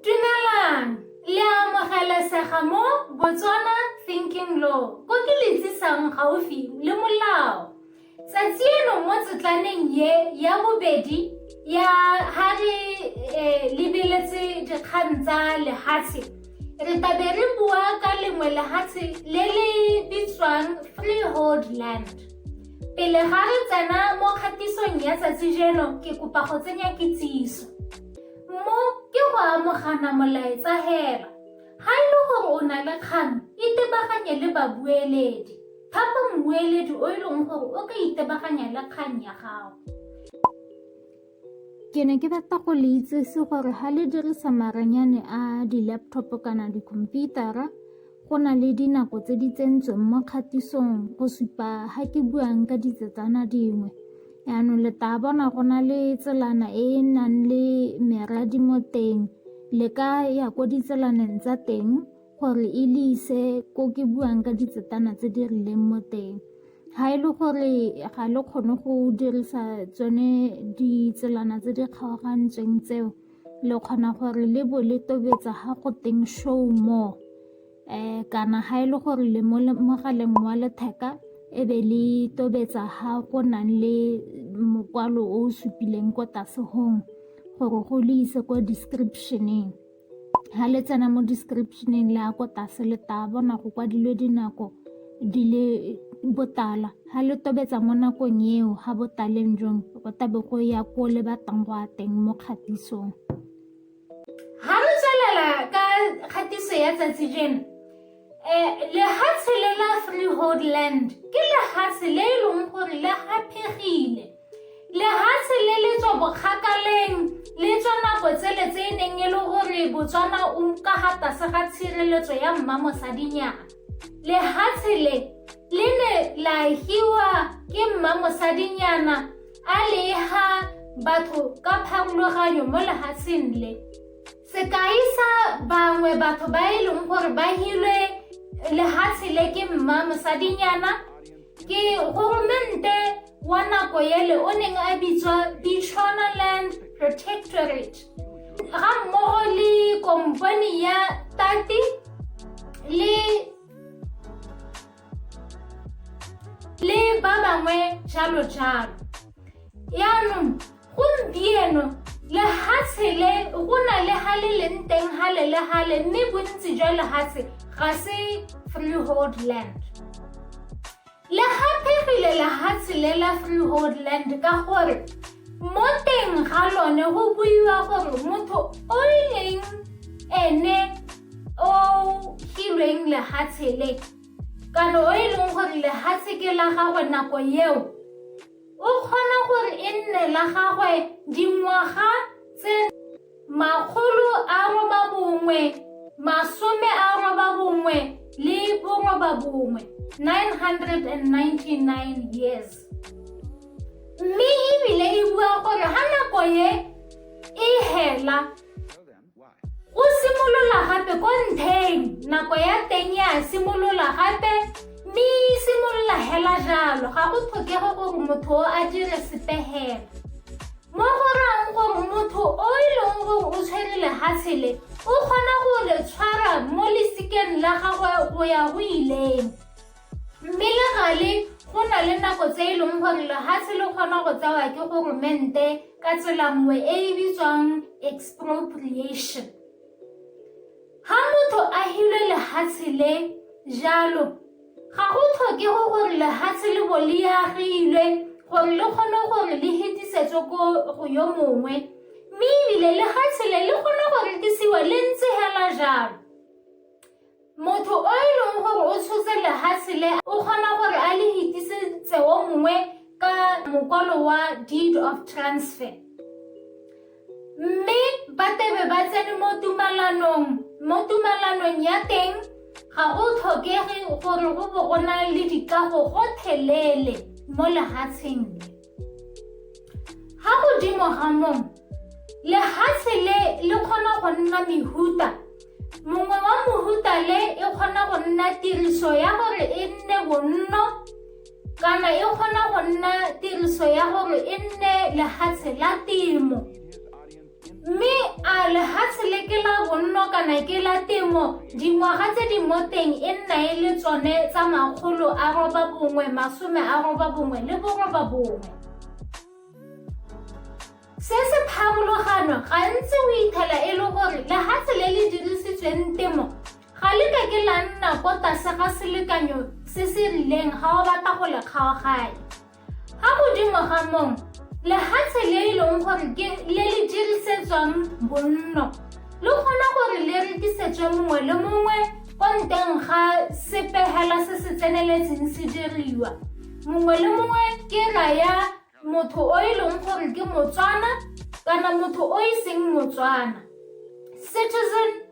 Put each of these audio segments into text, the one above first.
Dumelang, le a amogelesega mo Botswana Thinking Law, ko ke le tsisang gaufi le molao. Tsatsi eno mo tsetlaneng ye ya bobedi ya ha re eh, lebeletse dikgang tsa lehatshe re tabe re bua ka lengwe lehatshe le le bitswang freehold land pele ga re tsena mo kgatisong ya tsatsi jeno ke kopa go tsenya kitsiso Mo ke go amogana molaetsa hela. Ga e le gore o na le kgang, itebaganye le babueledi. Thapa mmueledi o e leng gore o ka itebaganya le kgang ya gago. Ke ne ke rata go le itsese gore ga le dirisa maranyane a di-laptop kana dikhomputara Go na le dinako tse di tsentsweng mo kgatisong go supa ga ke buang ka ditsetsana dingwe. Yaanong le tla bona go na le tselana e e nang le meradi mo teng le ka ya ko ditselaneng tsa teng gore e le ise ko ke buang ka ditsetana tse di rileng mo teng. Ga e le gore ga le kgone go dirisa tsone ditselana tse di kgaogantsweng tseo le kgona gore le bo le tobetsa ga go teng show more um kana ga e le gore le mo mogaleng wa letheka e be le tobetsa ga go nang le mokwalo o o supileng ko tlase gong gore go le ise ko descriptioneng ga le tsena mo descriptioneng le ya ko tlase le tla bona go kwadilwe dinako di le botala ha le tobetsa mo nakong eo ha botaleng jong go tabe go ya ko le batlang go a teng mo kgatisong ha re tswelela ka kgatiso ya tsatsi jeno um lehatshe le la freehold land ke lehatshe le e leng gore le gaphegile lehatshe le le tswa bokgakaleng le tswa nako tsele tse e neng e le gore botswana o nka ga tlase ga tshireletso ya mmamosadinyana lehatshe le le ne la hiwa ke mmamosadinyana a leha batho ka pharologanyo mo lehatsheng le sekai sa bangwe batho ba e leng gore ba hilwe lehatshe le ke mmamosadinyana Ke goromente wa nako ele o neng a bitswa Bechuanaland Protectorate ga mmogo le kompone ya Tati le le ba bangwe jalo jalo yaanong Gompieno, lehatshe le go na le ha le leng teng hale le hale mme bontsi jwa lehatshe ga se freehold land. Le gaphegile lehatshe le la freehold land ka gore mo teng ga lone go buiwa gore motho o e leng ene o filweng lehatshe le kana o e leng gore lehatshe ke la gagwe nako eo O kgona gore e nne la gagwe dingwaga tse makgolo a roba bongwe masome a roba bongwe le boroba bongwe 999 years mme ebile e bua gore ga nako ye e hela Go simolola gape ko ntheng, nako ya teng ya simolola gape mme e simolola hela jalo ga go tlhokege gore motho o a dire sepegelo. Mo go rang gore motho o e leng gore o tshwere lehatshe le o kgona go le tshwara mo lesikeng la gagwe go ya go ileng. Mme le gale, go na le nako tse e leng gore lehatshe le kgona go tsewa ke goromente ka tsela nngwe e e bitswang expropriation ga motho a hile lehatshe le jalo ga go tlhoke go gore lehatshe le bo le agilwe gore le kgone gore le hetisetswe ko go yo mongwe mme ebile lehatshe le le kgone go rekisiwa le ntse hela jalo Motho o e leng gore o tshotse lehatshe le o kgona gore a le hitisetse o mongwe ka mokwalo wa deed of transfer mme ba tebe ba tsene mo tumalanong mo tumalanong ya teng ga go tlhokege gore go bo go na le dikago gothelele mo lehatsheng le Ga godimo ga mong, lehatshe le le kgona go nna mehuta. Mongwe wa mohuta le e kgona go nna tiriso ya gore e nne bonno kana e kgona go nna tiriso ya gore e nne lehatshe la temo. mme a lehatshe le ke la bonno kana ke la temo dingwaga tse di mo teng e nna e le tsone tsa makgolo a roba bongwe masome a roba bongwe le boroba bongwe se se pharologano gantsi o ithela e le gore lehatshe le le dirisitsweng temo ga le ka ke la nna ko tlase ga selekanyo se se rileng ga o batla go le kgaoganya Ga godimo ga moo, lehatshe le e leng gore ke le le dirisetswang bonno le kgona gore le rekisetswe mongwe le mongwe kwa nteng ga sepegela se se tseneletseng se diriwa mongwe le mongwe ke raya motho o e leng gore ke motswana kana motho o e seng motswana citizen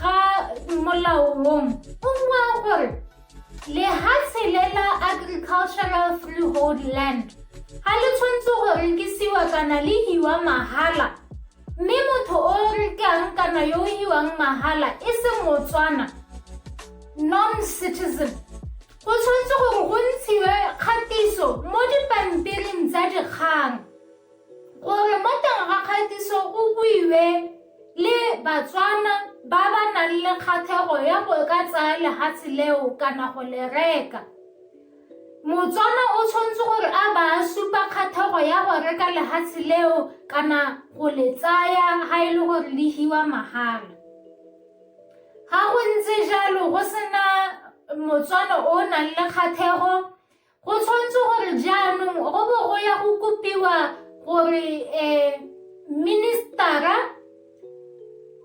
ga molao wong o bua gore lehatshe le la agricultural freehold land ga le tshwanetse go rekisiwa kana le hiwa mahala mme motho o rekang kana yo o hiwang mahala e se motswana non-citizen go tshwanetse gore go ntshiwe kgatiso mo dipampiring tsa dikgang Gore mo teng ga kgatiso go buiwe le Batswana ba ba nang le kgathego ya go ka tsaya lehatshe leo kana go le reka. Motswana o tshwanetse gore a ba a supa kgathego ya go reka lehatshe leo kana go le tsaya ha e le gore le hiwa mahala. Ga go ntse jalo go sena Motswana o nang le kgathego Go tshwanetse gore jaanong go bo go ya go kopiwa gore um ministara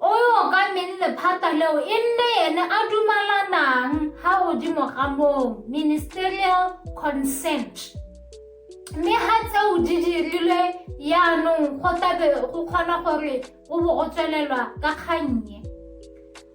o okameng lephata leo e nne ene a dumalanang ga godimo ga moo ministerial consent mme ga tseo di dirilwe yaanong go tlabe go kgona gore go bo go tswelelwa ka kgannye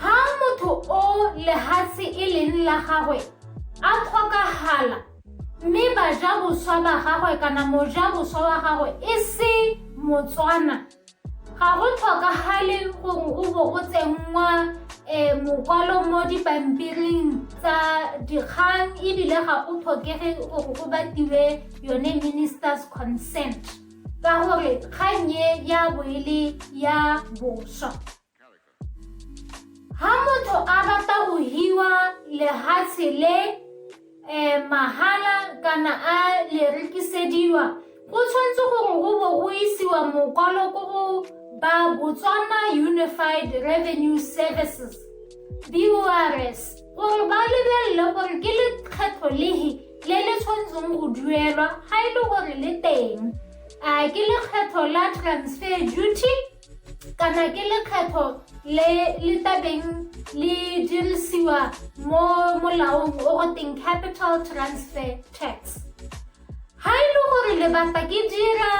Ha motho o lehatshe e leng la gagwe a tlhokagala mme baja boswa ba gagwe kana moja boswa wa gagwe e se motswana ga go tlhokagale gore o bo o tsenngwa um mokwalo mo dipampiring tsa dikgang ebile ga go tlhokege gore go batiwe yone minister's consent ka gore kgang e ya bo e le ya boswa ha motho a rata go hiwa lehatshe le um mahala kana a le rekisediwa go tshwanetse gore go bo go isiwa mokwalo ko go ba botswana unified revenue services bors gore ba lebelele gore ke lekgetho lehe le le tshwanetseng go duelwa ga e le gore le teng a ke lekgetho la transfer duty kana ke lekgetho le le tabeng le dirisiwa mo molaong o go teng capital transfer tax ga e le gore lebata ke dira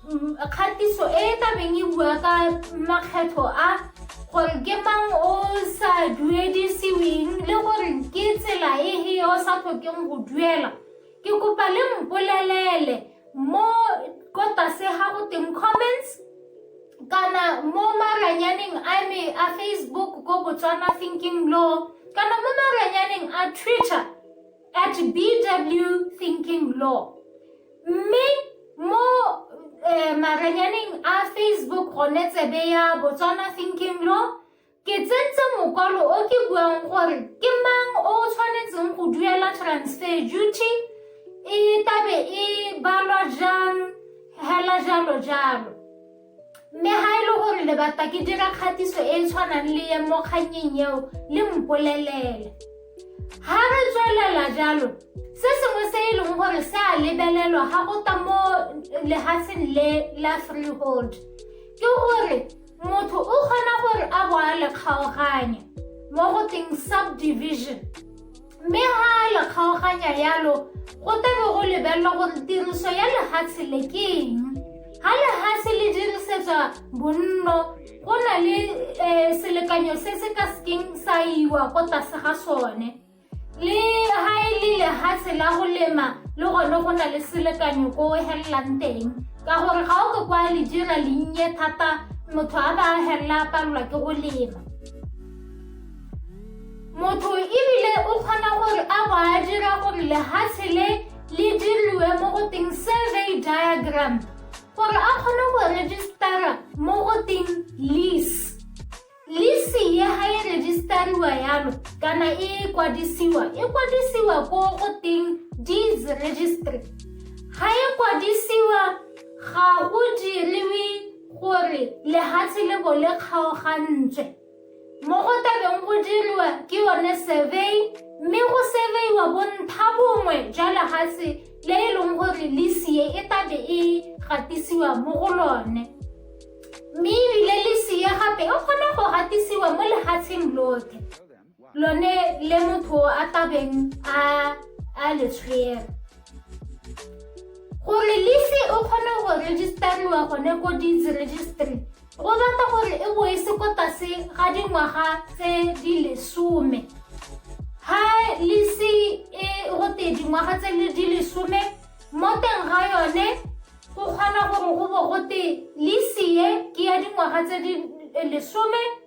Mm, kgatiso e e tlabeng e bua ka makgetho a gore ke mang o sa duedisiweng le gore ke tsela e he o sa tlhokeng go duela ke kopa le mpolelele mo ko tlase ga go teng comments kana mo maranyaneng a me a facebook ko botswana thinking law kana mo maranyaneng a twitter at bw thinking law mme mo um maranyaneng a facebook gone tsebe ya botswana thinking law ke tsentse mokwalo o ke buang gore ke mang o tshwanetseng go duela transfer duty e tabe e balwa jang hela jalo jalo mme ga e le gore le batla ke dira kgatiso e e tshwanang le ye mo kgannyeng eo le mpolelele ga re tswelela jalo se sengwe se e leng gore se a lebelelwa ga go ta mo lehatsheng le la freehold ke gore motho o kgona gore a bo a le kgaoganya mo go teng subdivision mme ga a le kgaoganya yalo go tlabe go lebelelwa gore tiriso ya lehatshe le ke eng ga lehatshe le dirisetswa bonno go na le um selekanyo se se ka sekeng sa iwa ko tlase ga sone le ga e le lehatshe la go lema le gone go na le selekanyo ko o helelang teng ka gore ga o ke kwa le dira lennye thata motho a ba a helela a palelwa ke go lema Motho ebile o kgona gore a bo a dira gore lehatshe le le diriwe mo go teng survey diagram gore a kgone go registera mo go teng lease lease ye ga e registariwa yalo kana e kwadisiwa e kwadisiwa ko go teng deeds registry ga e kwadisiwa ga o diriwe gore lehatshe le bo le kgaogantswe mo go tabeng go diriwa ke yone survey mme go surveyiwa bontlha bongwe jwa lefatshe le e leng gore lesie e tabe e gatisiwa mo go lone mme ebile lesie gape e kgona go gatisiwa mo lefatsheng lotlhe lone le motho a tabeng a a le tshwere gore lise o kgone go registariwa gone ko deeds registry go batla gore e bo e se ko tlase ga dingwaga tse di lesome ha lise e go te dingwaga tse di lesome mo teng ga yone go kgona gore go bo go te lise e ke ya dingwaga tse di lesome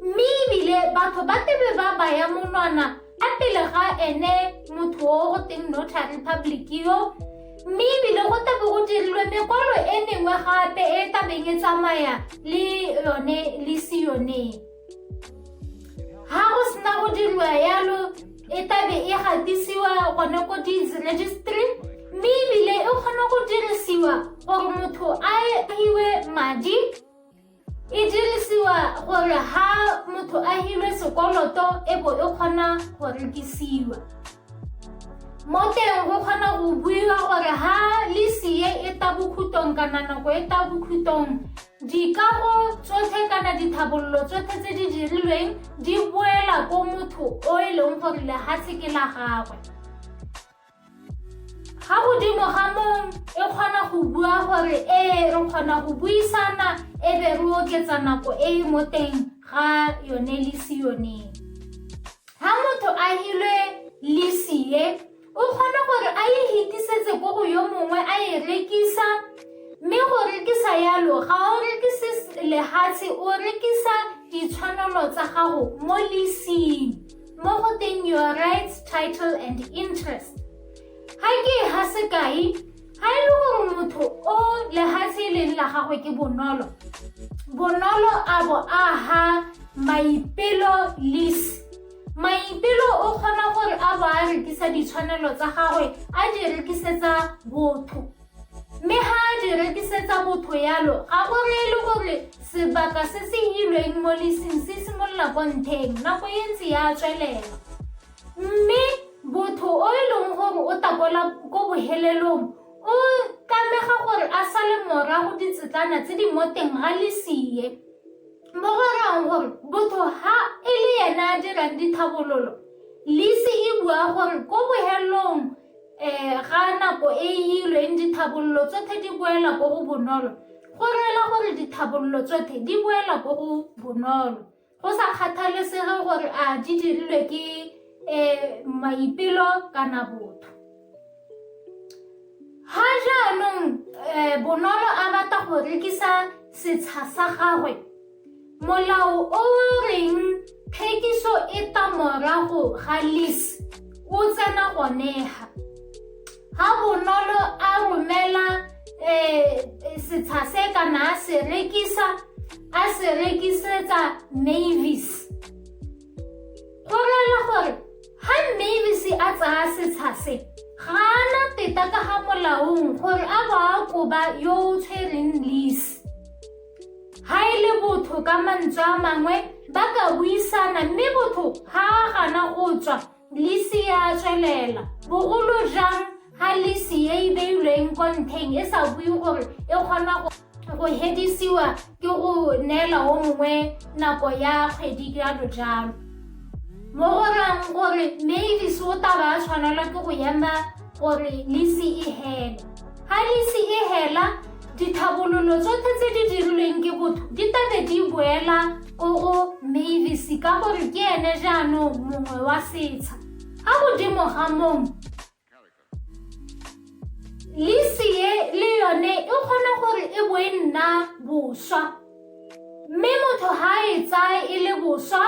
Mme ebile batho ba tebe ba baya monwana a pele ga ene motho o go teng notary public yo mme ebile go tlabe go dirilwe mekwalo e mengwe gape e tabeng e tsamaya le yone le se yone ga go sena go diriwa yalo e tabe e gatisiwa gone ko deeds registry mme ebile e kgona go dirisiwa gore motho a hiwe madi E dirisiwa gore ha motho a hilwe sekoloto e bo e kgona go rekisiwa. Mo teng go kgona go buiwa gore ha lesie e ta bokhutong kana nako e ta bokhutong dikago tsotlhe kana dithabololo tsotlhe tse di dirilweng di boela ko motho o e leng gore lehatshe ke la gagwe. ga godimo ga mong e kgona go bua gore ee re kgona go buisana e be re oketsa nako e e mo teng ga yone lisi yoneng ga motho a hilwe lisi ye o kgona gore a e hitisetse ko go yo mongwe a e rekisa mme go rekisa yalo ga o rekise lehatshe o rekisa ditshwanelo tsa gago mo lising mo go teng your rights title and interest ga ke e ga sekai ga e le gore motho o lehatshe e leng la gagwe ke bonolo bonolo a bo a ga maipelo lease maipelo o kgona gore a bo a rekisa ditshwanelo tsa gagwe a di rekisetsa botho Mme ga a di rekisetsa motho yalo, ga go reye le gore sebaka se se hilweng mo lising se simolola kwa ntheng, nako e ntse ya tswelela. Mme botho o e leng gore o takola ko bohelelong o tlamega gore a sale morago ditsetlana tse di mo teng ga lisie. Mo go rayang gore botho ha e le ene a dirang dithabololo, lise e bua gore ko bohelelong um ga nako e ilweng dithabololo tsotlhe di boela ko go bonolo go reela gore dithabololo tsotlhe di boela ko go bonolo go sa kgathalesege gore a di dirilwe ke um maipelo kana botho ga jaanong um bonolo a batla go rekisa setsha sa gagwe Molao o o reng thekiso e ta morago ga lease o tsena gonega. Ga bonolo a romela um setsha se kana a se rekisa a se rekisetsa mavis go rela gore ga mavis a tsaya setsha se ga ana teta ka ga molaong gore a ba a koba yo o tshwereng lease Ga e le botho ka mantswe a mangwe ba ka buisana mme botho ga a gana go tswa lisi ya tswelela bogolo jang ga lisi e e beilweng ko ntheng e sa bue gore e kgona go go hedisiwa ke go neela o mongwe nako ya kgwedi jalo jalo mo go rang gore mme lisi o taba a tshwanelwa ke go ema gore lisi e hela ga lisi e hela Ditlhabololo tsotlhe tse di dirilweng ke botho di tabe di boela ko go Mavis ka gore ke ene jaanong mongwe wa setsha. Ka godimo ga mong, lisi e le yone e kgona gore e bo e nna boswa mme motho ga e tsaye e le boswa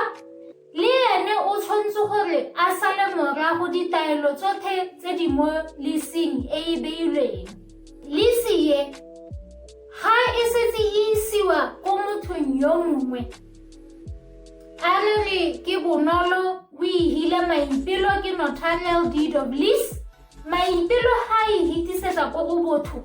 Le ene o tshwanetse gore a sale morago ditaelo tsotlhe tse di mo lising e e beilweng. Lisi ye, ga e setse e isiwa ko mothong yo mongwe, a re re ke bonolo o e hile maipelo ke notarial deed of lease, maipelo ga e hitisetsa ko go botho,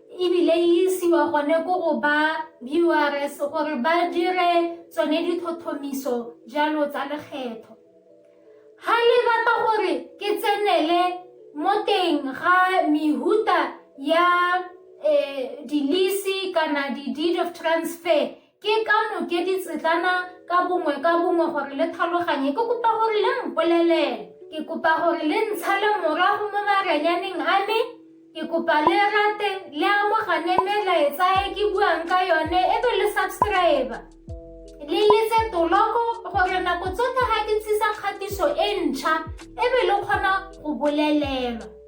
ebile e isiwa gone ko go ba urs gore ba dire tsone dithothomiso jalo tsa lekgetho ga le batla gore ke tsenele mo teng ga mehuta ya um dilisi kana di-deed of transfer Ke ka noke ditsetlana ka bongwe ka bongwe gore le tlhaloganye. Ke kopa gore le mpolelele. Ke kopa gore le ntshale morago mo maranyaneng a me. Ke kopa le rate, le amogane melaetsa e ke buang ka yone, e be le subscribe. Le letse toloko gore nako tsotlhe ga ke ntshisa kgatiso e ntšha, e be le kgona go bolelelwa.